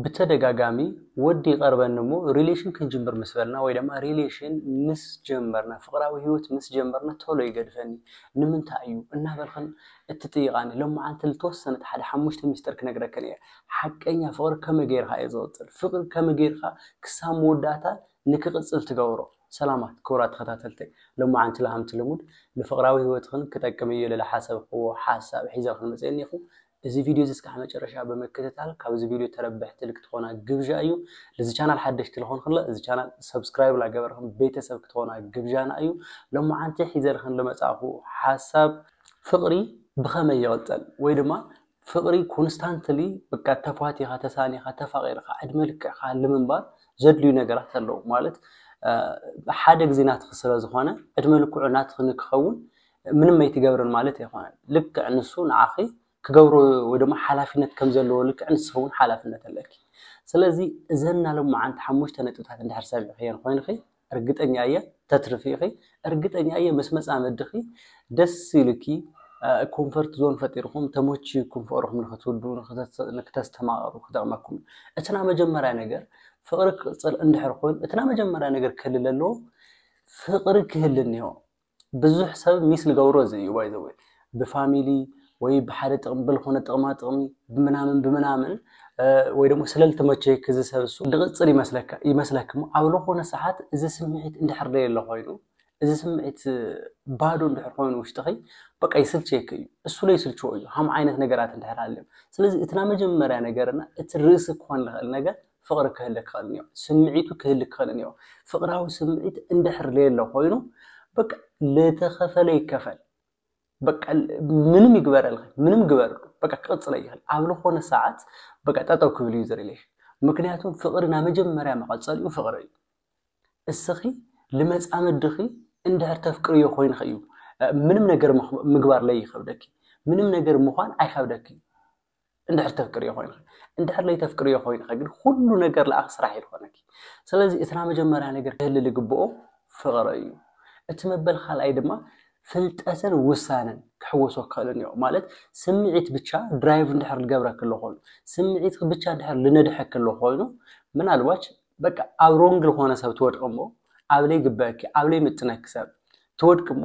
ብተደጋጋሚ ወዲ ይቀርበኒ እሞ ሪሌሽን ክንጅምር ምስ በልና ወይ ደማ ሪሌሽን ምስ ጀመርና ፍቅራዊ ሂወት ምስ ጀመርና ቶሎ ይገድፈኒ ንምንታይ እዩ እናበልክን እትጥይቃኒ ሎምዓንቲ ልተወሰነት ሓደ ሓሙሽተ ሚስጥር ክነግረክን እየ ሓቀኛ ፍቅሪ ከመይ ገይርካ እዩ ዝቅጽል ፍቅሪ ከመይ ገይርካ ክሳብ መወዳእታ ንክቅጽል ትገብሮ ሰላማት ክቡራት ተከታተልተይ ሎምዓንቲ ልሃምቲ ልሙድ ንፍቅራዊ ሂወትክን ክጠቅም እዩ ልልሓሰብክዎ ሓሳብ ሒዘልክን መጽየኒ እኹ እዚ ቪድዮ እዚ እስካዕ መጨረሻ ብምክትታል ካብዚ ቪድዮ ተረበሕቲ ልክትኾና ግብዣ እዩ። ልዚ ቻናል ሓደሽቲ ልኾንክለ እዚ ቻናል ሰብስክራይብ ላገበርክን ቤተሰብ ክትኾና ግብዣና እዩ። ሎምዓንቲ ሒዘልክን ልመጻእኹ ሓሳብ። ፍቅሪ ብኸመይ ይቅጸል ወይ ድማ ፍቅሪ ኮንስታንትሊ በቃ ተፋቲኻ ተሳኒኻ ተፋቂርኻ ዕድመ ልክዕካ ልምንባር ዘድልዩ ነገራት ኣለዉ ማለት ሓደ ግዜ ናትኺ ስለዝኾነ ዕድመ ልክዑ ናትኺ ንክኸውን ምንም ኣይትገብርን ማለት ኣይኮነን ልክዕ ንሱ ንዓኺ ክገብሮ ወይ ድማ ሓላፍነት ከም ዘለዎ ልክዕ ንስኺ እውን ሓላፍነት ኣለኪ ስለዚ እዘን ናሎማዓንቲ ሓሙሽተ ነጥብታት እንድሕር ሰሚዕኽየን ኮይንኺ እርግጠኛ እየ ተትርፊ ኢኺ እርግጠኛ እየ ምስ መፃምድኺ ደስ ኢሉኪ ኮንፈርት ዞን ፈጢርኩም ተመችዩኩም ፍቅርኩም ንክትውዱ ንክተስተማቅሩ ክጠቅመኩም እቲ ናይ መጀመርያ ነገር ፍቅሪ ክቅፅል እንድሕር ኮይኑ እቲ ናይ መጀመርያ ነገር ክህልለ ኣለዎ ፍቅሪ ክህል እኒሆ ብዙሕ ሰብ ሚስ ልገብሮ እዚ እዩ ባይ ዘ ወይ ብፋሚሊ ወይ ብሓደ ጥቕሚ ብልኾነ ጥቕማ ጥቕሚ ብምናምን ብምናምን ወይ ደሞ ስለልተመቸይ ክዚ ሰብ እሱ ልቕፅል ይመስለክሞ ኣብ ልኾነ ሰዓት እዚ ስምዒት እንድሕር ደየለ ኾይኑ እዚ ስምዒት ባዶ እንድሕር ኮይኑ ውሽጥኺ በቃ ይስልቸክ እዩ እሱ ላይ ስልችዎ እዩ ሃም ዓይነት ነገራት እንድሕር ሃልዮም ስለዚ እትና መጀመርያ ነገርና እቲ ርእሲ ክኾን ልኽእል ነገር ፍቕሪ ክህልክ ይኸእል እኒኦ። ስምዒቱ ክህልክ ይኸእል እኒኦ። ፍቕራዊ ስምዒት እንድሕር ለየሎ ኮይኑ በቃ ለተኸፈለ ይከፈል በቃ ምንም ይግበረልኸ ምንም ግበርሉ በቃ ክቕፅለ ይኸእል ኣብ ልኾነ ሰዓት በቃ ጠጠው ክብል እዩ ዝሪሌሽን ምክንያቱም ፍቕሪ ናይ መጀመርያ መቐፀሊኡ ፍቕሪ እዩ። እስኺ ልመፃመድኺ እንድሕር ተፍቅርዮ ኮይንኺ እዩ ምንም ነገር ምግባር ለይኸብደኪ ምንም ነገር ምዃን ኣይኸብደኪ እዩ። እንድሕር ተፍቅርዮ ኮይንኸ እንድሕር ለይተፍቅርዮ ኮይንኸ ግን ኩሉ ነገር ለኣኽ ስራሕ እዩ ዝኾነኪ ስለዚ እቲ ናይ መጀመርያ ነገር ክህሊ ልግብኦ ፍቕሪ እዩ እቲ መበል ካልኣይ ድማ ፍልጠትን ውሳነን ክሕወሶ ክኽእልን እዮ ማለት ስምዒት ብቻ ድራይቭ እንድሕር ልገብረ ክሎ ኮይኑ ስምዒት ብቻ እንድሕር ልነድሐ ክሎ ኮይኑ ምናልባች በቃ ኣብ ሮንግ ዝኾነ ሰብ ትወድቂ እሞ ኣብ ለይግበአኪ ኣብ ለይምጥነኪ ሰብ ትወድቂ እሞ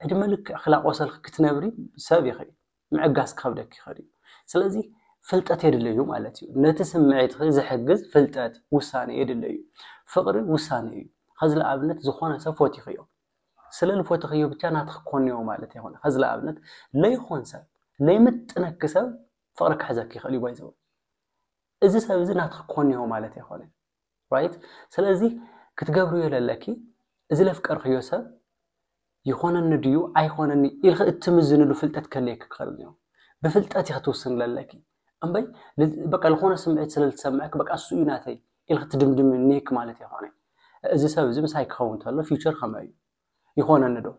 ዕድመ ልክዕ ክላቆሰልኪ ክትነብሪ ሰብ ይኽእል ምዕጋስ ክኸብደኪ ይኸእል እዩ። ስለዚ ፍልጠት የድልይ እዩ ማለት እዩ። ነቲ ስምዒትኺ ዝሕግዝ ፍልጠት፣ ውሳነ፣ የድልይ እዩ። ፍቕሪ ውሳነ እዩ። ኸዚ ልኣብነት ዝኾነ ሰብ ፎቲኽዮ። ስለ ልፎትኽዮ ብቻ ናትኺ ክኮንዮ ማለት ኣይኮነን። ኸዚ ልኣብነት ለይኾን ሰብ፣ ለይምጥነኪ ሰብ ፍቕሪ ክሕዘኪ ይኸእል እዩ ባይዘወይ። እዚ ሰብ እዚ ናትኺ ክኮንዮ ማለት ኣይኮነን። ራይት ስለዚ ክትገብርዮ ዘለኪ እዚ ለፍቀርክዮ ሰብ ይኾነኒ ድዩ ኣይኾነኒ ኢልኺ እትምዝንሉ ፍልጠት ከለየኪ ክኽእል እዩ ብፍልጠት ኢኺ ትውስኒ ዘለኪ እምበይ በቃ ዝኾነ ስምዒት ስለ ዝሰምዐክ በቃ እሱ እዩ ናተይ ኢልኺ ትድምድሚ እኒክ ማለት ይኾነ እዚ ሰብ እዚ ምሳይ ክኸውን ተሎ ፊውቸር ከመይ እዩ ይኾነኒ ዶ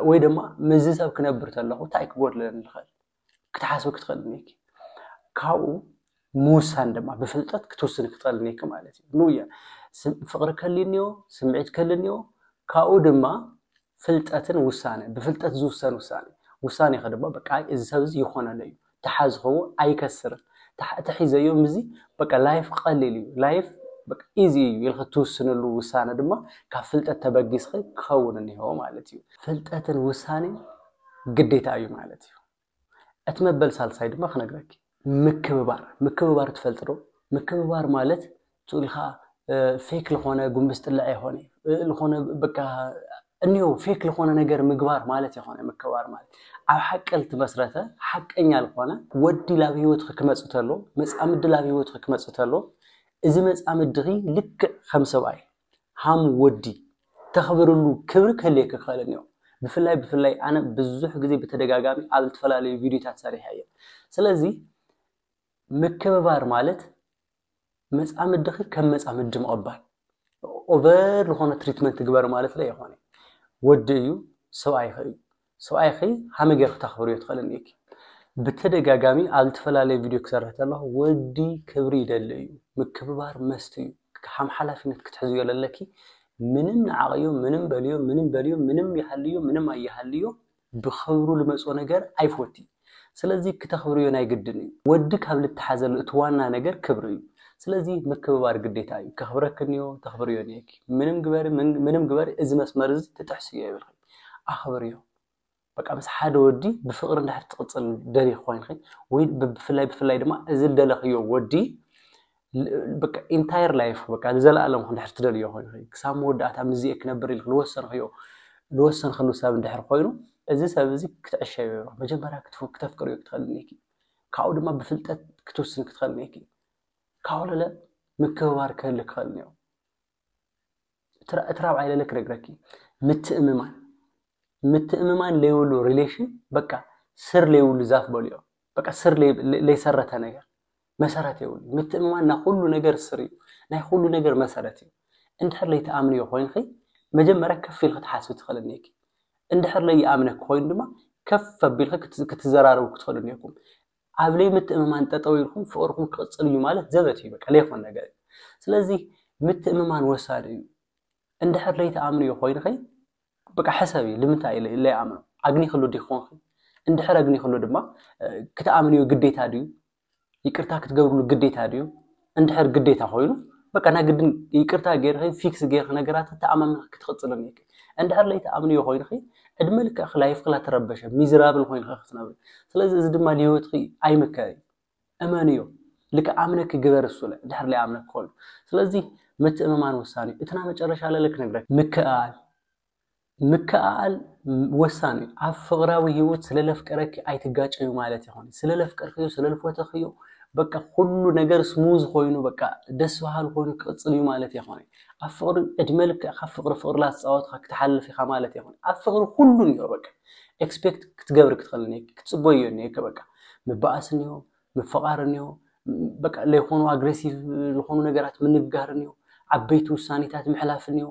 ወይ ድማ ምዚ ሰብ ክነብር ተለኹ እንታይ ክጎድለኒ ዝኽእል ክትሓስቢ ክትኽእልን እኒኪ ካብኡ ምውሳን ድማ ብፍልጠት ክትውስን ክትኽእል እኒኪ ማለት እዩ ንያ ፍቕሪ ከሊ እኒዮ ስምዒት ከሊ እኒዮ ካብኡ ድማ ፍልጠትን ውሳነ ብፍልጠት ዝውሰን ውሳነ ውሳነ ከ ድማ በቃ እዚ ሰብ እዚ ይኾነለ እዩ ተሓዝኸዎ ኣይከስርን ተሒዘዮ ምዚ በቃ ላይፍ ቀሊል እዩ ላይፍ ኢዚ እዩ ኢልክ ትውስንሉ ውሳነ ድማ ካብ ፍልጠት ተበጊስኺ ክኸውን እኒሆ ማለት እዩ ፍልጠትን ውሳኔን ግዴታ እዩ ማለት እዩ። እቲ መበል ሳልሳይ ድማ ክነግረኪ ምክብባር ምክብባር ትፈልጥ ዶ? ምክብባር ማለት ትብልካ ፌክ ዝኾነ ጉንብስ ጥልዕ የኾነ ዝኾነ በቃ እኒው ፌክ ዝኾነ ነገር ምግባር ማለት የኾነ ምክብባር ማለት ኣብ ሓቂ ልትመስረተ ሓቀኛ ዝኾነ ወዲ ላብ ህይወትኺ ክመፅእ ተሎ መፃምዲ ላብ ህይወትኺ ክመፅእ ተሎ እዚ መፃምድኺ ልክዕ ከም ሰብኣይ ሃም ወዲ ተኽብርሉ ክብሪ ክህልየካ ክኽእል እኒኦ። ብፍላይ ብፍላይ ኣነ ብዙሕ ግዜ ብተደጋጋሚ ኣብ ዝተፈላለዩ ቪድዮታት ሰሪሐ እየ። ስለዚ ምክብባር ማለት መጻምድኺ ከም መጻምዲ ምቕባል ኦቨር ዝኾነ ትሪትመንት ግበር ማለት ዶ ኣይኮነ ወዲ እዩ ሰብኣይኺ እዩ ሰብኣይኪ ሃመይ ጌርኪ ተኽብርዮ ትኽእሊ እኒኢኪ ብተደጋጋሚ ኣብ ልተፈላለየ ቪድዮ ክሰርሕ ተለኹ ወዲ ክብሪ ይደሊ እዩ ምክብባር መስት እዩ ሓም ሓላፊነት ክትሕዝዮ ለለኪ ምንም ንዓቅዮ ምንም በልዮ ምንም በልዮ ምንም ይሃልዮ ምንም ኣይሃልዮ ብኽብሩ ልመጾ ነገር ኣይፎቲ ስለዚ ክተኽብርዮ ናይ ግድን እዩ። ወዲ ካብ ልተሓዘሉ እቲ ዋና ነገር ክብሪ እዩ። ስለዚ ምክብባር ግዴታ እዩ። ከኽብረክንዮ ተኽብርዮ እኒኤኪ። ምንም ግበሪ ምንም ግበሪ እዚ መስመር እዚ ትጥሕስዮ የብልክን። ኣኽብርዮ። በቃ ምስ ሓደ ወዲ ብፍቕሪ እንድሕር ትቕፅል ደሊኺ ኮይንኺ ወይ ብፍላይ ብፍላይ ድማ እዚ ልደለኽዮ ወዲ ኢንታየር ላይፍ በቃ ንዘለኣለም እንድሕር ትደልዮ ኮይኑ ክሳብ መወዳእታ ምስዚኤ ክነብር ኢልክ ዝወሰንክዮ ዝወሰንክሉ ሰብ እንድሕር ኮይኑ እዚ ሰብ እዚ ክትዕሸዮ መጀመርያ ክተፍቅርዮ ክትኽእል እኒኪ ካብኡ ድማ ብፍልጠት ክትውስን ክትኽእል እኒኪ ካብኡ ለለ ምክብባር ክህልክ ክኽእል እኒኦ እቲ ራብዓይ ለለ ክነግረኪ ምትእምማን ምትእምማን ለይብሉ ሪሌሽን በቃ ስር ለይብሉ ዛፍ በልዮ በቃ ስር ለይሰረተ ነገር መሰረት የብሉን። ምትእምማን ናይ ኹሉ ነገር ስር እዩ፣ ናይ ኹሉ ነገር መሰረት እዩ። እንድሕር ለይትኣምንዮ ኾይንኺ መጀመርያ ከፍ ኢልኺ ትሓስቢ ትኽእሊ እኒሀኪ። እንድሕር ለይኣምነኪ ኾይኑ ድማ ከፍ ኣቢልኺ ክትዘራረቡ ክትኽእሉ እኒሀኩም። ኣብ ለይምትእምማን ጠጠው ኢልኩም ፍቕርኹም ክቕፅል እዩ ማለት ዘበት እዩ፣ በቃ ለይኾን ነገር እዩ። ስለዚ ምትእምማን ወሳኒ እዩ። እንድሕር ለይትኣምንዮ ኾይንኺ በቃ ሕሰቢ ልምንታይ ኢለ ለይኣምኖ ኣግኒክሉ ዲኪ ኮንኪ እንድሕር ኣግኒክሉ ድማ ክትኣምንዮ ግዴታ ድዩ ይቅርታ ክትገብርሉ ግዴታ ድዩ እንድሕር ግዴታ ኮይኑ በቃ ናይ ግድን ይቅርታ ገይርኺ ፊክስ ገይርኺ ነገራት ተኣማሚኺ ክትቕፅል እኒኪ እንድሕር ለይትኣምንዮ ኮይንኺ ዕድመ ልክዕኺ ላይፍኺ ላትረበሸ ሚዝራብል ኮይንኺ ክትነብሪ ስለዚ እዚ ድማ ንሂወትኺ ኣይምከር እዩ እመንዮ ልክኣምነኪ ግበሪ ሱለ ድሕር ለይኣምነኪ ከሉ ስለዚ ምትእምማን ወሳኒ እዩ እቲ ናመጨረሻ ለለ ክነግረኪ ምክእኣል ምክእኣል ወሳኒ እዩ ኣብ ፍቅራዊ ሂወት ስለ ለፍቀረኪ ኣይትጋጨዩ ማለት የኮነይ ስለ ለፍቀርክዮ ስለ ልፎተክዮ በቃ ኩሉ ነገር ስሙዝ ኮይኑ በቃ ደስ በሃሊ ኮይኑ ክቅፅል እዩ ማለት የኮነይ ኣብ ፍቅሪ እድመ ልክዕካ ፍቅሪ ፍቅሪ ላትፃወትካ ክትሓልፍ ኢካ ማለት የኮነይ ኣብ ፍቅሪ ኩሉ እኒኦ በቃ ኤክስፔክት ክትገብር ክትኽእል እኒሄ ክትፅቦ እዮ እኒሄ በቃ ምባኣስ እኒሆ ምፍቓር እኒሆ በቃ ለይኾኑ ኣግሬሲቭ ዝኾኑ ነገራት ምንግጋር እኒሆ ዓበይቲ ውሳኔታት ምሕላፍ እኒሆ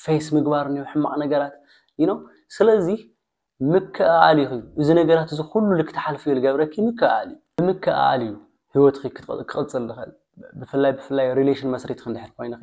ፌስ ምግባር እኒሆ ሕማቕ ነገራት ይኖ ስለዚ ምክእኣል እዩ እዚ ነገራት እዚ ኩሉ ልክትሓልፍ እዩ ልገብረኪ ምክእኣል እዩ ብምክእኣል እዩ ህይወትኺ ክቕፅል ዝኽእል ብፍላይ ብፍላይ ሪሌሽን መስሪትኺ እንድሕር ኮይንኺ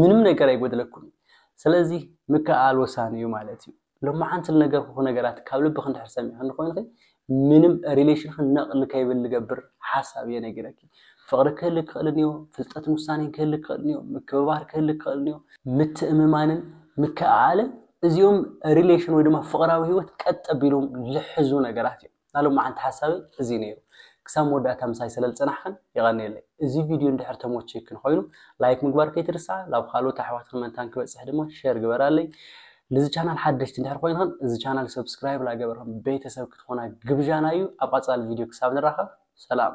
ምንም ነገር ኣይጎደለኩምን ስለዚ ምክእኣል ወሳኒ እዩ ማለት እዩ ሎማዓንቲ ልነገርኩኪ ነገራት ካብ ልብኪ እንድሕር ሰሚዕኪኒ ኮይንኪ ምንም ሪሌሽንኪ ነቅ ንከይብል ልገብር ሓሳብ እየ ነጊረኪ ፍቅሪ ክህልክ ይክእል እንዮ ፍልጠትን ውሳኔን ክህልክ ይክእል እንዮ ምክብባር ክህልክ ይክእል እንዮ ምትእምማንን ምክእኣልን እዚኦም ሪሌሽን ወይ ድማ ፍቅራዊ ሂወት ቀጥ ኣቢሎም ልሕዙ ነገራት እዮም። ናይ ሎማዓንቲ ሓሳበይ እዚ ነይሩ ክሳብ መወዳእታ ምሳይ ሰለልፀናሕኽን የቐንየለይ እዚ ቪድዮ እንድሕር ተሞቺይክን ኾይኑ ላይክ ምግባር ከይትርስዓ ላብ ኻልኦት ኣሕዋትኽን መንታን ክበፅሕ ድማ ሼር ግበራለይ ንዚ ቻናል ሓደሽቲ እንድሕር ኾይንኽን እዚ ቻናል ሰብስክራይብ ላገበርኽን ቤተሰብ ክትኾና ግብዣና እዩ ኣብ ቐፃሊ ቪድዮ ክሳብ ንራኸብ ሰላም።